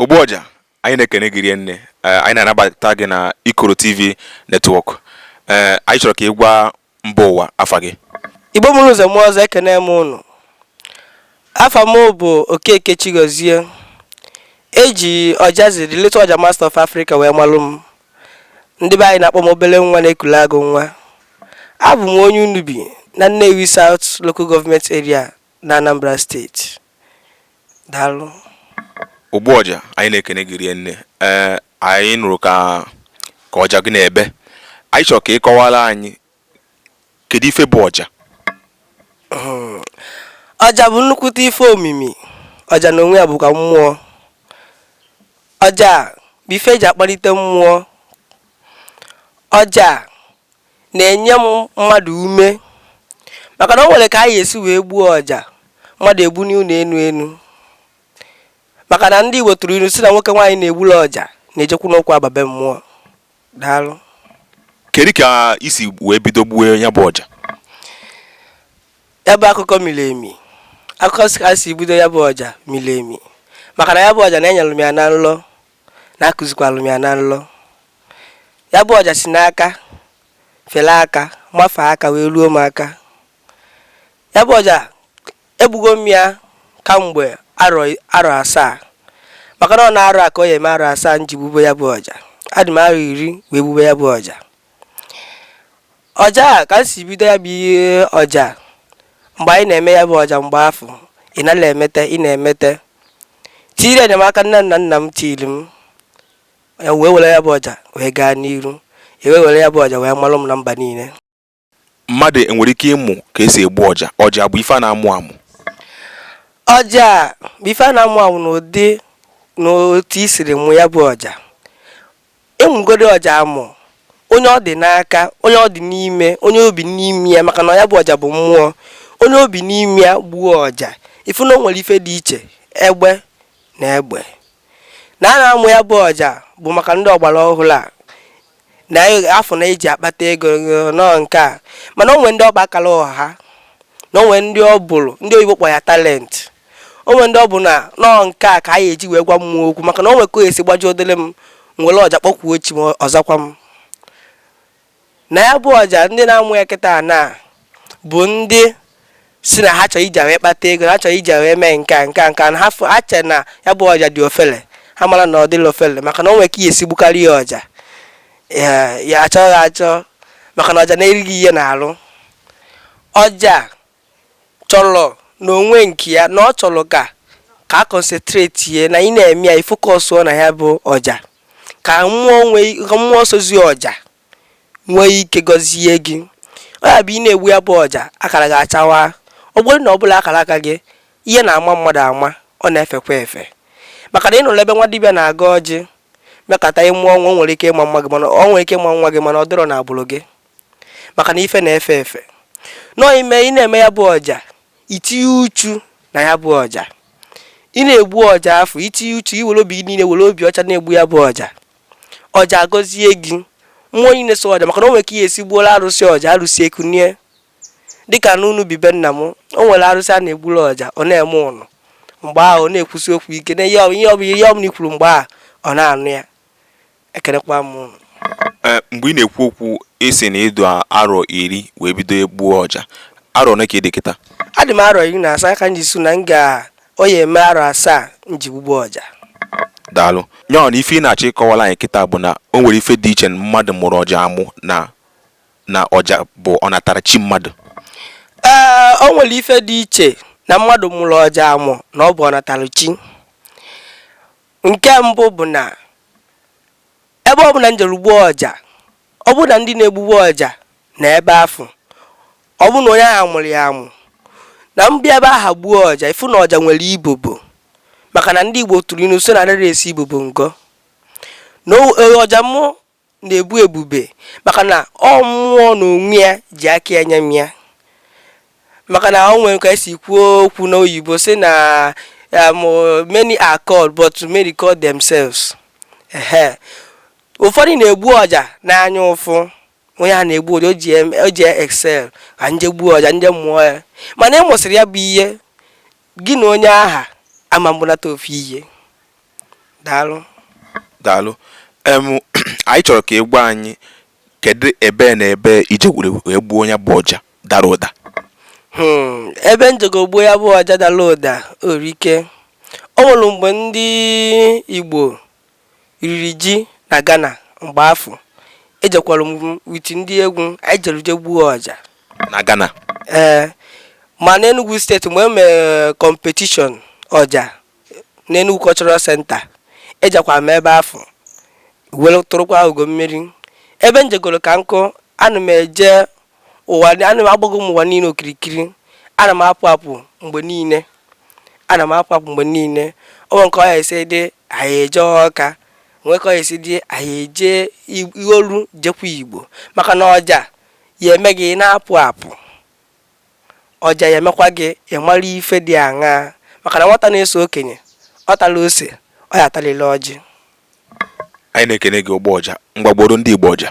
ogbu ọja anyị na-ekene gị rie nne eh, anyị na-anabata gị na ikoro tv network eh, anyị chọrọ ka ị gwa mba ụwa afa gị igbo mụrụ nze mụọ ọzọ ekene m ụnụ afa m bụ okeke chigozie eji ojazzy the little ọja master of africa wee malụ m ndị be anyị na-akpọ m obele nwa na-ekule agụ nwa abụ m onye Unubi na Nnewi South Local Government Area na Anambra steeti daalụ ogbu ọja anyị na-ekene gị rie nne ee anyị nụrụ ka ka ọja gị na-ebe anyị chọrọ ka ị kọwara anyị kedu ife bụ ọja hmm. ọja bụ nnukwute ife omimi ọja na onwe ya bụkwa mmụọ ọja bụ ife eji akpalite mmụọ ọja na-enye mmadụ ume maka na o nwere ka a ya-esi wee gbuo ọja mmadụ egbu n'ụlọ enu enu maka na ndị Igbo tụrụ ilu sị na nwoke nwaanyị na-egbulu ọja na-ejikwanụ ụkwụ aba be mmụọ Daalụ. Kedu ka i si wee bido gbuo ya bụ ọja? Ya bụ akụkọ miri emi. Akụkọ s- ka si bido ya bụ ọja miri emi. Maka na ya bụ ọja na e nyere m ya na nlọ na a kụzikwalụ m ya na nlọ. Ya bụ ọja si n'aka fere aka mafee aka wee ruo m aka. Ya bụ ọja Egbugo m ya kamgbe arọ arọ asaa maka na ọ n'arọ a ka ọ ya-eme arọ asaa m ji gbube ya bụ ọja. Adị m arọ iri wee gbube ya bụ ọja. Ọja a ka m si bido ya bụ ihe ọja a, mgbe ị na-eme ya bụ ọja mgbe afụ, ị nala emete, ị na-emete. Tinyere enyemaka nne m na nna m tiiri m, e wee were ya bụ ọja wee gaa n'iru. E wee were ya bụ ọja wee malụ m na mba niile. Mmadụ enwere ike ịmụ ka esi egbu ọja? Ọja bụ ife a na-amụ amụ? Ọja bụ ife a na-amụ amụ n'ụdị na otu i siri mụ ya bụ ọja. Ị mụgodi ọja amụ, onye ọ dị n'aka, onye ọ dị n'ime, onye o bi n'ime ya maka na ya bụ ọja bụ mmụọ. Onye o bi n'ime ya gbuo ọja, ị fụ na o nwere ife dị iche egbe na egbe. Na a na-amụ ya bụ ọja bụ maka ndị ọgbara ọhụrụ a. na-afụ na e ji akpata ego na ọ nke a mana o nwe ndị ọ bụ akara ụwa ha na o nwe ndị ọ bụrụ ndị oyibo akpọ ya talent o nwe ndị ọ bụ na ọ nke a ka a ya-eji wee gwa mmụọ okwu maka na o nwe ka e si gbaji odele m were ọja kpọkwuo chi m ọ zakwa m na ya bụ ọja ndị na-amụ ya kịta na bụ ndị si na ha chọrọ iji ya wee kpata ego na ha chọrọ iji ya wee mee nke a nke a nke a na ha fụ ha chere na ya bụ ọja dị ofele ha mara na ọ dịrọ ofele maka na o nwere ka ị ya-esi gbukarị ya ọja ya ya achọghị achọ maka na ọja na-eri ihe n'arụ ọja chọrọ n'onwe nke ya na ọ chọrọ ka ka a concentrate ya na ị na-eme ya ị focusụọ na ya bụ ọja ka mmụọ nwee ka mmụọ sozi ọja nwee ike gọzie gị ọ ya bụ ị na-egbu ya bụ ọja akara gị achawa ọ bụrụ na ọ bụrọ akara aka gị ihe na-ama mmadụ ama ọ na-efekwa efe maka na ị nụrụ ebe nwa dibịa na-agọ ọjị mekata ị mụọ nwa o nwere ike ịma nwa gị mana ọ nwere ike ịma nwa gị mana ọ dịrọ na agbụrụ gị maka na ife na-efe efe nọọ ime ị na-eme ya bụ ọja i tinye uchu na ya bụ ọja ị na-egbu ọja afụ i tinye uchu i were obi niile were obi ọcha na-egbu ya bụ ọja ọja agọzie gị mmụọ niile so ọja maka na o nwere ka ị ya-esi gbuoro arụsị ọja arụsị ekunie dịka n'ụnọ obi be nna m o nwere arụsị a na-egburu ọja ọ na-eme ụnụ mgbe ahụ ọ na-ekwusi okwu ike na ihe ọ ihe ọ bụ ihe ọ bụla i kwuru mgbe ahụ ọ na-anụ ya ekelekwa m ụnụ Ee, mgbe ị na-ekwu okwu ị sị na ị dị arọ iri wee bido igbu ọja arọ ole ka ị dị kịta adị m arọ iri na asaa ka m ji sị na m ga Ọ ya-eme arọ asaa m ji gbugbu ọja. Daalụ. Ya ọ na ife ị na-achọ ịkọwara anyị kịta bụ na o nwere ife dị iche mmadụ mụrụ ọja amụ na na ọja bụ ọnatarachi mmadụ? Ee, o nwere ife dị iche na mmadụ mụrụ ọja amụ na ọ bụ ọnatarachi. Nke mbụ bụ na Ebe ọ bụla m jere gbuo ọja, ọ bụrụ na ndị na-egbugbu ọja na ebe afụ, ọ bụrụ na onye ahụ mụrụ ya amụ, na m bịa ebe aha gbuo ọja, ị fụ na ọja nwere ibobo maka na ndị Igbo tụrụ ilu sị na adịrọ esi ibobo ngọ na ọja mụ na-ebu ebube maka na ọ mmụọ na onwe ya ji aka ya nye m ya. maka na o nwere ka esi kwuo okwu n'oyibo sị na um, many are called but many call themselves ehe ụfọdụ na-egbu ọja n'anya ụfụ onye a na-egbu ọja o ji em- o ji excel ka m je gbuo ọja m je mụọ ya mana ị mụsịrị ya bụ ihe gị na onye aha ama egbunata ofu ihe daalụ daalụ em anyị chọrọ ka ị gwa anyị kedu ebe na ebe i jere wee gbuo nya bụ ọja dara ụda Hmm, ebe m jego gbuo ya bụ ọja dara ụda erika o nwere mgbe ndị igbo riri ji na ghana mgbe afụ ejekwara m with ndị egwu anyị jere je gbuo ọja na ghana ee ma n'enugwu steeti mgbe e mere competition ọja n'enugwu cultural center ejekwara m ebe afụ were tụrụkwa ugo mmeri ebe m jegoro ka nkụ ana m eje ụwa ana m agbago m ụwa niile okirikiri ana m apụ apụ mgbe niile ana m apụ apụ mgbe niile o nwere ka ọ ya esi dị anyị eje ọka nwee ka ọ ya esi dị anyị eje Ig- ihe olu jekwa igbo maka na ọja ya eme gị ị na-apụ apụ ọja ya emekwa gị ị mara ife dị aṅaa maka na nwata na-eso okenye ọ tala ose ọ ya atalịlị ọjị Anyị na-ekene gị ogbu ọja. Ngwa gbuoro ndị Igbo ọja.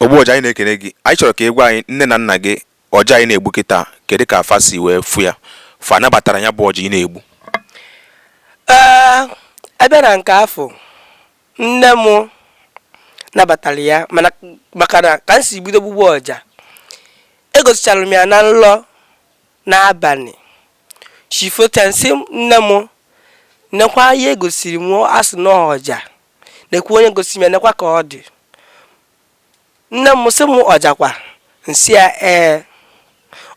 ogbu ọja anyị na-ekene gị anyị chọrọ ka ị gwa anyị nne na nna gị ọja a ị na-egbu kịta kedu ka fa si wee fụ ya fa nabatara ya bụ ọja ị na-egbu ebe na nke afụ nne m nabatara ya maka na ka m si bido gbugbu ọja egosichara m ya na nlọ n'abalị chi fote nsị nne m nekwa ihe egosiri m asị na ọja nekwa onye gosi m ya nekwa ka ọ dị nne m sị m ọja kwa nsị ya ee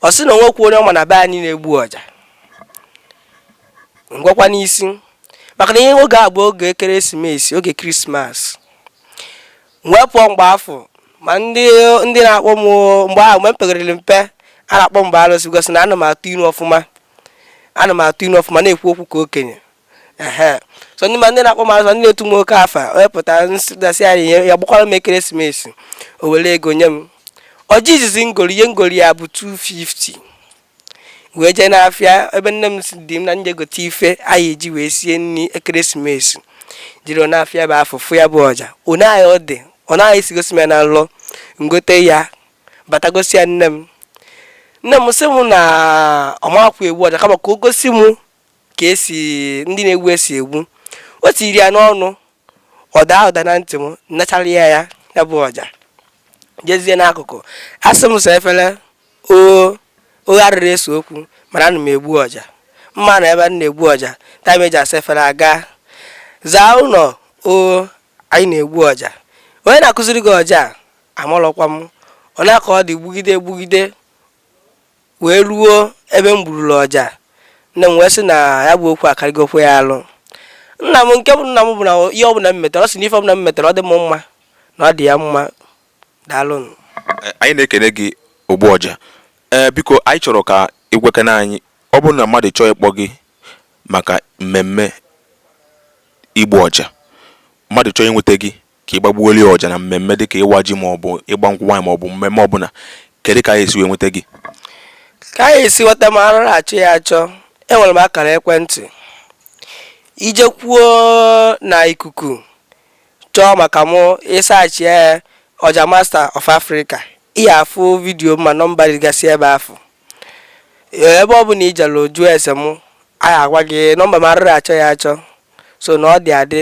ọ sị na o nwekwọ onye ọ ma na be anyị na-egbu ọja ngwakwa n'isi maka na ihe oge a bụ oge ekeresimesi oge krismas wee pụọ mgbe afụ ma ndị ndị na-akpọ m mgbe ahụ mgbe m pekarịrị mpe a na-akpọ m arụsị because na ana m atụ inu ọfụma ana m atụ inu ọfụma na-ekwu okwu ka okenye ehe so ndị ma ndị na-akpọ m alụsị ndị na-etu m oke afa onye pụtara nsịdasị ya ihe ya gbakwara m ekeresimesi o were ego nye m ọja izizi ngori ihe ngori ya bụ 250 wee jee n'afịa ebe nne m si dị m na nje gote ife anyị eji wee sie nri ekeresimesi jeruo n'afịa bụ afọ fụ ya bụ ọja ọ naghị ọ dị ọ naghị esi gosi m ya na nlọ ngote ya bata gosi ya nne m nne m sị m na ọ makwọ egbu ọja kama ka o gosi m ka esi ndị na-egbu esi egbu o tiri ya n'ọnụ ọ daa ụda na ntị m nachara ya ya ya bụ ọja jezie n'akụkụ asị m saa efere ọ ghọrịrị ese okwu mana ana m egbu ọja mma na ebe a na-egbu ọja time eji asa efere aga zaa ụlọ o anyị na-egbu ọja onye na-akụziri gị ọja a amalọkwa m ọ nya ka ọ dị gbugide gbugide wee ruo ebe m gburula ọja nne m wee sị na ya bụ okwu akarịgokwa ya alụ nna m nke bụ nna m bụ na ihe ọbụla m metere ọ sị na ife ọbụla m metere ọ dị m mma na ọ dị ya mma daalụnụ Eh, anyị na-ekene gị ogbu ọja ee biko anyị chọrọ ka ị gwakene anyị ọ bụrụ na mmadụ chọọ ịkpọ gị maka mmemme igbu ọja mmadụ chọọ inweta gị ka ị bịa gbuolu ya ọja na mmemme dịka ịwa ji maọbụ ịgba nkwụ nwaanyị maọbụ mmemme ọbụla kedu ka a ya-esi wee nweta gị ka a ya-esi nweta m arụrụ achọ ya achọ enwere m akara ekwentị i jekwuo na ikuku chọọ maka mụ ị search ya Ọja Master of Africa ị ya-afụ video ma nọmba dịgasị ebe afụ ebe ọ bụla i jelu jụọ ese mụ a ya-agwa gị nọmba m arụrụ achọ ya achọ so na ọ dị adị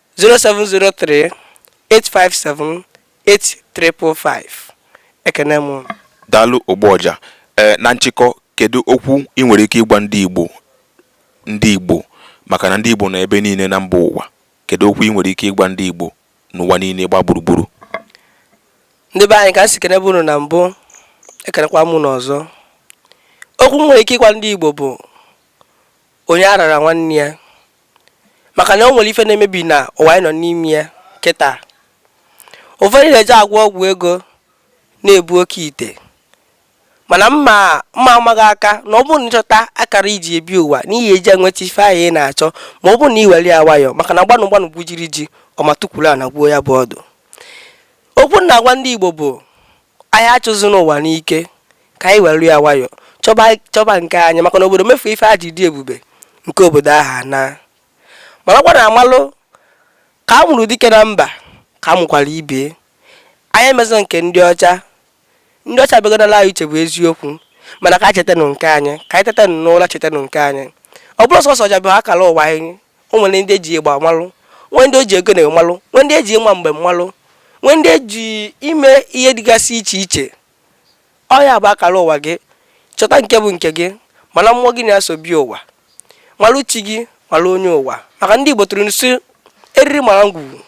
0703 857 8355 ekene m unu daalụ ogbu ọja ee na nchịkọ kedu okwu ị nwere ike ịgwa ndị igbo ndị igbo maka na ndị igbo nọ ebe niile na mba ụwa kedu okwu ị nwere ike ịgwa ndị igbo n'ụwa niile gba gburugburu ndị be anyị ka m si kenebu unu na mbụ ekenekwa m unu ọzọ okwu m nwere ike ịgwa ndị igbo bụ onye aghana nwanne ya maka na o nwere ife na-emebi na ụwa anyị nọ n'ime ya kịta ụfọdụ na-eje agwọ ọgwụ ego na-ebu oke ite mana m ma m ma-ama gị aka na ọ bụrụ na ị chọta akara i ji ebi ụwa na ị ya-eji enweta ife ahụ ị na-achọ ma ọ bụrụ na ị were ya nwayọọ maka na gbanụ gbanụ gwujiri ji ọma tukwuru ana gwuo ya bụ ọdụ okwu m na-agwa ndị Igbo bụ Anyị achụzina ụwa n'ike, ka anyị welụ ya nwayọ chọba chọba nke anyị, maka na obodo mefuo ife a ji dị ebube nke obodo ahụ anaa. Marakwa na amalụ ka a mụrụ dike na mba ka a mụkwara ibe ya. Anyị emezịna nke ndị ọcha. Ndị ọcha abịagonalụ anyị uche bụ eziokwu, mana ka anyị chetanụ nke anyị. Ka anyị tetanụ n'ụra chetanụ nke anyị. Ọ bụrọ sọsọ ọja bụ akala ụwa anyị. o nwere ndị eji ịgba malụ nwee ndị eji ogene malụ nwee ndị eji ịma mbem malụ nwee ndị eji ime ihe dịgasị iche iche ọ ya bụ akara ụwa gị chọta nke bụ nke gị malụ mmụọ gị na ya so bịa ụwa malụ chi gị malụ onye ụwa maka ndị Igbo tụrụ inu sị eriri mara ngwugwu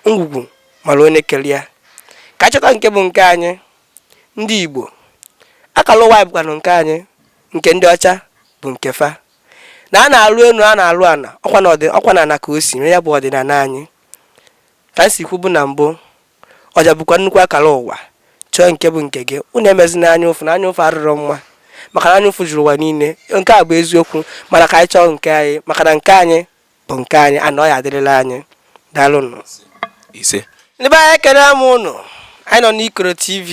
ngwugwu mara onye kere ya ka a chọta nke bụ nke anyị ndị Igbo akara ụwa anyị bụkwanụ nke anyị nke ndị ọcha bụ nke fa na a na-alụ enu a na-alụ ana ọkwa na ọdị ọkwa na ana ka o si ya bụ ọdịnala anyị ka m si kwubu na mbụ ọja bụkwa nnukwu akara ụwa chọọ nke bụ nke gị unu emezina anya ụfụ na anya ụfụ arụrụ mma maka na anya ụfụ juru ụwa niile nke a bụ eziokwu mana ka anyị chọọ nke anyị maka na nke anyị bụ nke anyị na ọ ya adịrịla anyị daalụnụ ise ndị be anyị ekele m ụnụ anyị nọ n'ikoro tv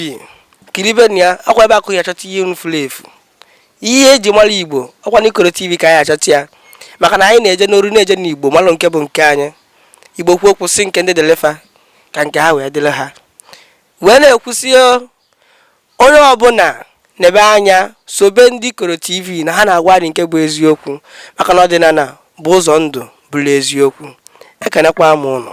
kiribenụ ya ọkwa ebe a ka ị ya-achọta ihe unu furu efu ihe eji mara igbo ọkwa n'ikoro tv ka anyị achọta ya maka na anyị na-eje n'oru na-eje n'igbo malụ nke bụ nke anyị igbo kwuo okwu sị nke ndị dịlị fa ka nke ha wee dịrị ha wee na-ekwu sị Onye ọbụla nebe anya sobe ndị Ikoro TV na ha na-agwa anyị nke bụ eziokwu maka na ọdịnala bụ ụzọ ndụ bụrụ eziokwu. Ekenekwa m ụnụ.